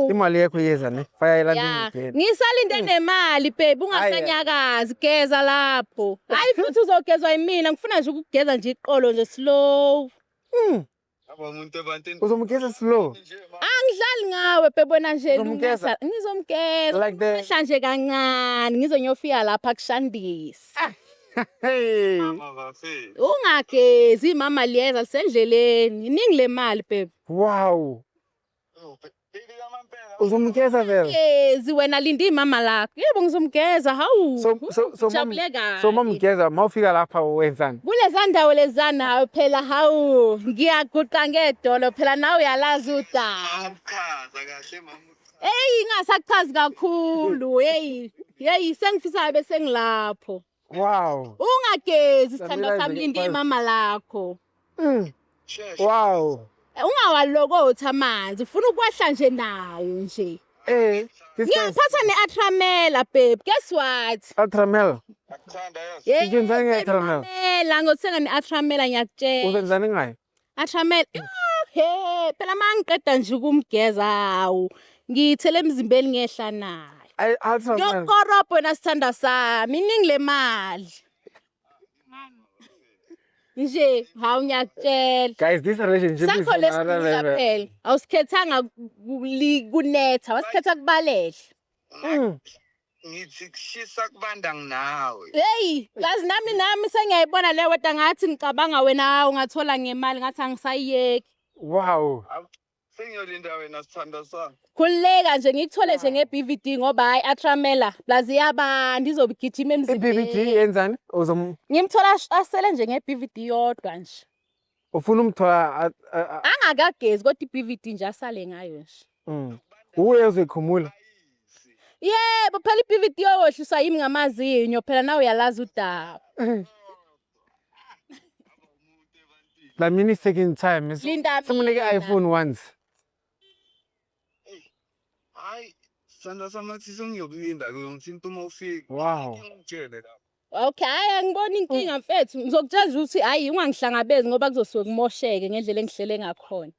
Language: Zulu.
Imali yakho iyeza ne. Faya elandini. Yeah. Ngisalinde hmm. nemali babe ungasanyakazi geza lapho. Hayi futhi uzogezwa yimina ngifuna nje ukugeza nje iqolo nje slow. Mm. Abamuntu ebantini. Uzomgeza slow. Angidlali ngawe babe wena nje lungisa. Ngizomgeza. Like the Mhla nje kancane ngizonyofika lapha kushandisa. Ah. Hey. Mama bafe. Ungagezi mama liyeza lisendleleni. Iningi lemali babe. Wow. Uzomgeza vele. Ngezi wena linda imama lakho. Yebo ngizomgeza. Hawu. So so so jabuleka. So mamgeza mawufika lapha wenzani? Kuleza ndawo lezana hawu phela hawu ngiyaguqa ngedolo phela nawe uyalazi udaba. Chaza kahle mama. Hey ingasachazi kakhulu. Hey. Hey sengifisa bese ngilapho. Wow. Ungagezi sithando sami linde imama lakho. Mm. Wow. Eh, ungawalokothi amanzi ufuna ukwehla nje nawo nje. Eh. Ngiyaphatha ne-atramela babe. Guess what? Atramela. Ngithanda yes. Ngithanda nge-atramela. Ngiyakuthenga ne-atramela ngiyakutshela. Uzenzani ngayo? Atramele ah, he phela mangiqeda nje ukumgeza hawu ngiyithele emzimbeni ngehla naye. Ay Atramele. Yokorobho wena sithanda sami iningi lemali. Nje hawu ngiyakutshela. Guys, this relationship is Sakho lesikhulula phela. Awusikhethanga kuli- kunetha, wasikhetha kubalehla. Mm. ngithi kushisa kubanda nginawe heyi kazi nami nami sengiyayibona le weta ngathi ngicabanga wena hawu ngathola ngemali ngathi angisayiyeki wow sengiyolinda wena sithanda sami khululeka nje ngikuthole nje nge-bvd ngoba hhayi atramela plus iyabanda izobigijima i-bvd emzimbeni yenzani uzom ngimthola ash- asele nje nge-bvd yodwa nje ufuna umthola angakagezi kodwa iBVD nje asale ngayo nje mm. uye uzoyikhumula yebo phela iBVD yowohliswa yimi ngamazinyo phela nawe uyalazi udaba eh. la mini second time simunike iPhone once hayi sandla samathisa ngiyokulinda ke ngithinta uma ufika wow ngitshele lapho Okay, hayi angiboni inkinga mfethu. Ngizokutshela ukuthi hayi ungangihlangabezi ngoba kuzosuke kumosheke ngendlela engihlele ngakhona.